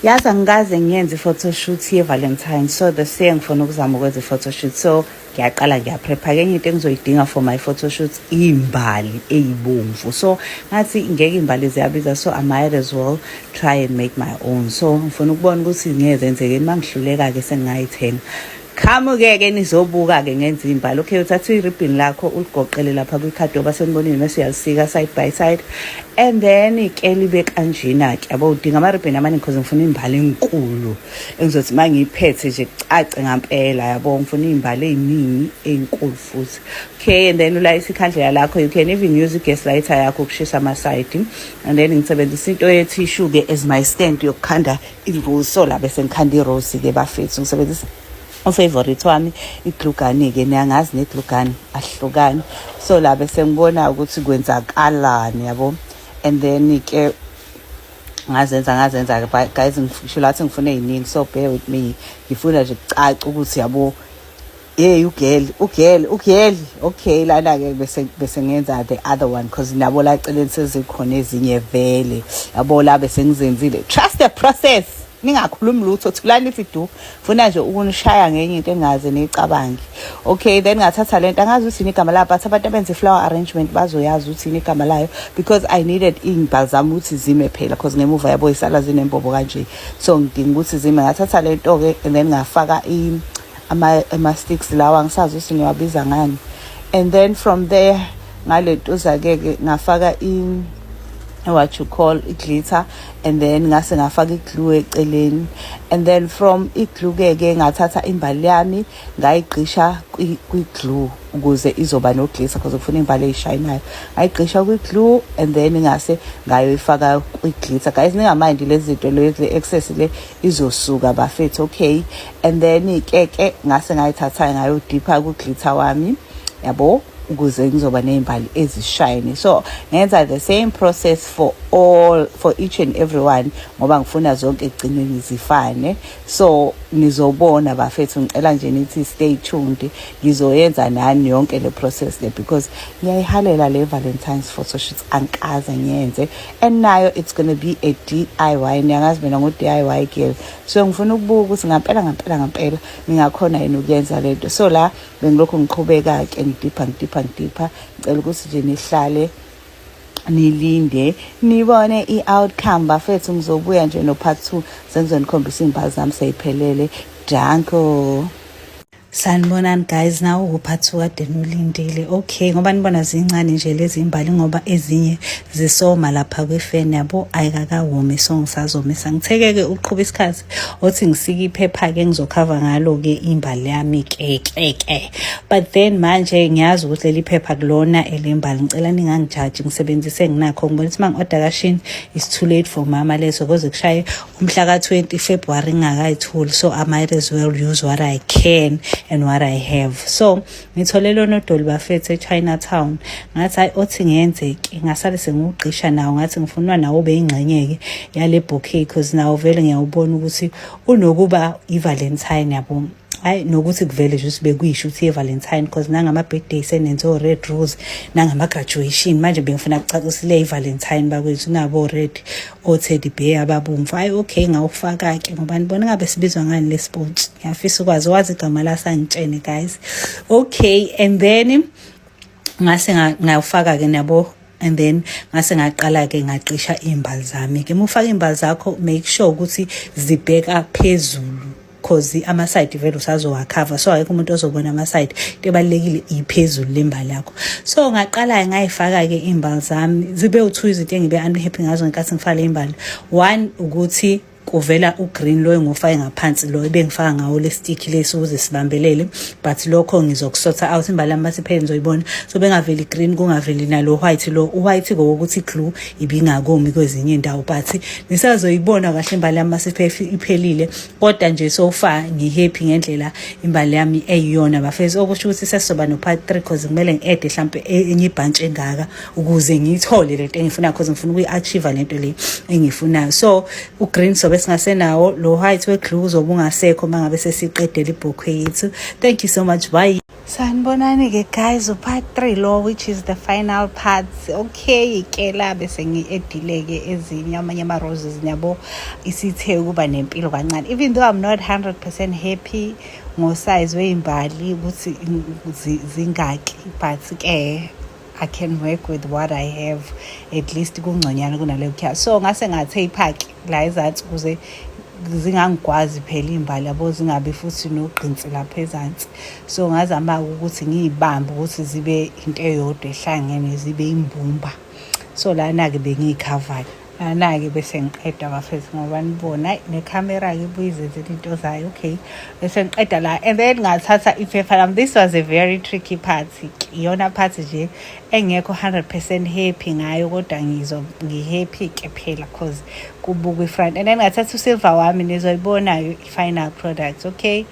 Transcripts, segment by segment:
Yazi angikaze ngiyenze i-photoshoot ye-valentine so the year ngifuna ukuzama ukwenza i-photoshoot so ngiyaqala ngiyaprepha ke enye into engizoyidinga for my photoshoot iy'mbali eyibomvu so ngathi ngeke iy'mbali ziyabiza so i might as well try and make my own so ngifuna ukubona ukuthi ngeke zenzekeni uma ngihluleka-ke sengingayithenga Qhamuke ke nizobuka ke ngenza imbali. Okay uthatha iribbon lakho uligoqele lapha kwikhadoba senibonile mase uyalisika side by side and then ke libe kanjena ke yabo udinga ama ribbon amaningi because ngifuna imbali enkulu engizothi mangiyiphethe nje kucace ngampela yabo ngifuna imbali eziningi ezinkulu futhi okay and then ulayisa ikhandlela lakho you can even use gas lighter yakho ukushisa ama side and then ngisebenzisa into ye tissue ke as my stand yokukhanda Inguso la bese ngikhanda irose-ke bafethu ngisebenzisa ufavorite wami iglugani-ke niyangazi neglugani ahlukani so la bese ngibona ukuthi kwenzakalani yabo and then-ke ngazenza ngazenza guys ngisho lathi ngifuna ey'ningi so bear with me ngifuna nje kucaca ukuthi yabo Hey ugirl, ugirl, ugirl. Okay lana ke bese bese ngenza the other one because nabo la celeni sezikhona ezinye vele. Yabo la bese ngizenzile. Trust the process. Ningakhulumi lutho thulani ithi du. Funa nje ukunishaya ngenye into engaze niyicabange. Okay then ngathatha lento angazi ukuthi ni igama la but abantu abenze flower arrangement bazoyazi ukuthi ni igama layo because I needed imbal zami ukuthi zime phela because ngemuva yabo isala zinembobo kanje. So ngidinga ukuthi zime ngathatha lento ke and then ngafaka i ama ama sticks lawa ngisazi ukuthi ngiwabiza ngani and then from there ngaletuza ke ke ngafaka in what you call iglitter and then ngase ngafaka iglue eceleni and then from iglue ke ke ngathatha imbali yami ngayigqisha kwiglue ukuze izoba noglitter because ufuna imbali eyishayinayo ngayigqisha kwiglue and then ngase ngayoyifaka kwiglitter guys ningamandi lezi zinto lezi excess le izosuka bafethu okay and then ke ke ngase ngayithatha ngayodipha kuglitha wami yabo ukuze ngizoba ney'mbali ezishayini so ngenza the same process for all for each and everyone ngoba ngifuna zonke ekugcineni zifane so nizobona bafethu ngicela nje nithi stay tuned ngizoyenza nani yonke le process le because ngiyayihalela le valentines photoshoots angikaze ngiyenze and nayo it's gonna be a DIY niyangazi mina ngo DIY girl so ngifuna ukubuka ukuthi ngampela ngampela ngampela ngingakhona yini ukuyenza lento so la bengilokhu ngiqhubeka ke ngidipha ngidipha ngidipha ngicela ukuthi nje nihlale nilinde nibone i-outcome bafethu ngizobuya nje no-part two sengizonikhombisa iy'mbali zami seyiphelele danko sanibonani guys nawo kuphathi kade nolindile okay ngoba nibona zincane nje lezi imbali ngoba ezinye zisoma lapha kwifeni yabo ayikakawomi so ngisazomisa ngithekeke uqhuba isikhathi othi ngisike iphepha-ke ngizokhava ngalo-ke imbali yami kekeke but then manje ngiyazi ukuthi leli phepha kulona elembali ngicela ningangijaji ngisebenzise nginakho ngibona ukuthi uma ngi-oda kashini is too late for mama leso koze kushaye umhla ka-20 february ngingakayitholi so i might as well use what i can and what i have so ngithole lona odoli bafethu echinatown ngathi hayi othi ngenzeke ngasale sengiwugqisha nawo ngathi ngifunwa nawo ube yingxenyeke yale bouquet because nawo vele ngiyawubona ukuthi unokuba i-valentine yabona hayi nokuthi kuvele nje ukuthi bekuyisho ukuthi ye-valentine because nangama-birthday senenze o-red rose nangama-graduation manje bengifuna kucacisile i-valentine bakwethu nabo-red o-teddy bear ababomvu hayi okay ngawufaka-ke ngoba nibona ngabe sibizwa ngani le sports ngiyafisa ukwazi wazi igama lasangitshene guys okay and then ngase ngawufaka-ke nabo and then ngase ngaqala ke ngacisha imbali zami ke mufaka imbali zakho make sure ukuthi zibheka phezulu cause ama-side vele usazowakhava so akekho umuntu ozobona ama-side into ebalulekile iphezulu lemba lakho so ngaqala-ke ngayifaka-ke iy'mbali zami zibe u-two izinto engibe unhappy ngazo ngenkathi ngifaka le mbali one ukuthi kuvela ugreen loyo ngofake ngaphansi loyo bengifaka ngawo lestick lesi ukuze sibambelele but lokho ngizokusotha out imbali yami basiphele nizoyibona so bengaveli green kungaveli nalo white lo white kokuthi glue ibingakomi kwezinye indawo but nisazoyibona kahle imbali yami basiphele iphelile kodwa nje so far ngihappy ngendlela imbali yami eyiyona bafethu okusho ukuthi sesizoba no-part three cause kumele ngi-ede mhlawumpe e-, enye ibhantshi engaka ukuze ngiyithole le nto engifunayo cause ngifuna ukuyi-achieve le nto le engiyifunayo so ugreen sobe singasenawo lo white weglu uzobe ungasekho uma ngabe sesiqedela ibhokhwe yethu thank you so much bye sanibonani-ke guys upart three lo which is the final part okay ke la bese ngi-edile-ke ezinye amanye ama-roses niyabo isithe ukuba nempilo kancane even though i'm not 100 percent happy ngosayizi weyimbali ukuthi zingaki but-ke I can work with what I have at least kungconyana kunale kukhya so ngase ngathe iphaki la ezansi kuze zingangikwazi phela iy'mbali yabo zingabi futhi nogqinsi lapha ezansi so ngazama ukuthi ngiyibambe ukuthi zibe into eyodwa ehlangene zibe imbumba so lana-ke bengiyikhavayo anake bese ngiqeda bafethu ngoba nibona nekhamera-ke ibuyizenze into zayo okay bese ngiqeda la and then ngathatha iphepha lami this was a very tricky part iyona part nje engekho 100 percent happy ngayo kodwa ngizo ngihappy ke phela cause kubukwa ifront and then ngathatha usilver wami nizoyibona-ke i-final product okay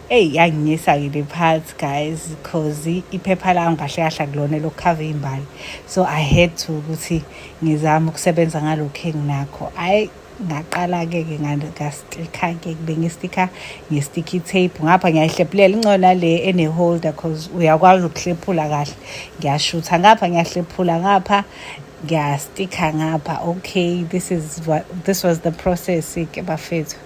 eyi yanginyisa-ke le part guys cause iphepha lami kahle kahle akulona elokukhava iy'mbali so i had to ukuthi ngizama ukusebenza ngalokhu enginakho hhayi ngaqala-ke ke ngastika-ke bengistika nge-sticky tape ngapha ngiyayihlephulela incona le ene-holder cause uyakwazi ukuhlephula kahle ngiyashutha ngapha ngiyahlephula ngapha ngiyastika ngapha okay this is what, this was the process-ke bafethu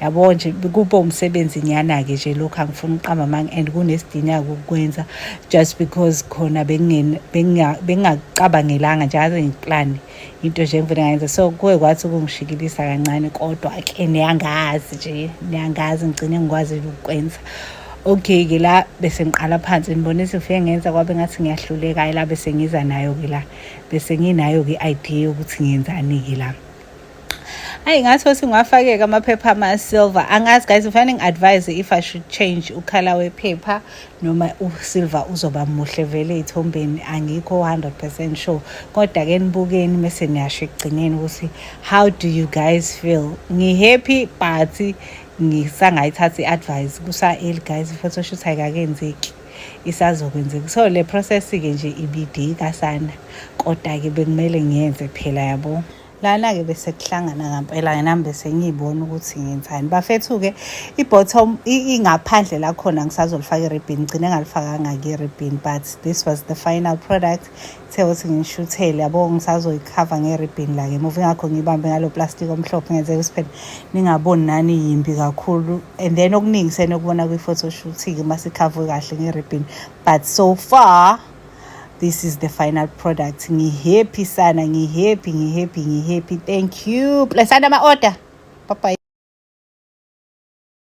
yabo nje kube umsebenzi nyana-ke nje lokhu angifuni ukuqamba amanga and kunesidinga-ke ukukwenza just because khona bengingakucabangelanga nje aze ngiplane into nje engivele ngayenza so kuye kwathi ukungishikilisa kancane kodwa-ke niyangazi nje niyangazi ngigcine ngikwazi ukukwenza okay-ke la bese ngiqala phansi ngibona izifike ngenza kwabe ngathi ngiyahluleka ayi la bese ngiza nayo-ke la bese nginayo-ke i-idea yokuthi ngenzani-ke la ayi ngathi othi ngwafakeka amaphepha ama-silver angazi guys ufanele ngi-advise if i should change ukhala wephepha noma usilver uzoba muhle vele ey'thombeni angikho 100 percent sure kodwa-ke nibukeni mese niyasho ekugcineni ukuthi how do you guys feel ngi-happy but ngisangayithatha i-advise kusa-eli guys i-photoshoot ayikakenzeki isazokwenzeka so le process-ke nje ibidika sana kodwa-ke bekumele ngiyenze phela yabo lana-ke bese kuhlangana ngampela yena bese ngiyibona ukuthi ngenzani bafethu-ke i-bottom ingaphandle lakhona ngisazolifaka i-ribbon ngigcine ngalifakanga-ke i-ribbon but this was the final product kuthe ukuthi ngishuthele yabo ngisazoyikhava nge-ribbon la ngemuva ingakho ngiyibambe ngalo plastic omhlophe ngenzeka ukuthi phela ningaboni nani yimbi kakhulu and then okuningi senokubona kwi-photoshoot-ke uma sikhavwe kahle nge-ribbon but so far this is the final product ngihappy sana ngihappy ngihappy ngihappy thank you blessana ama-order bye bye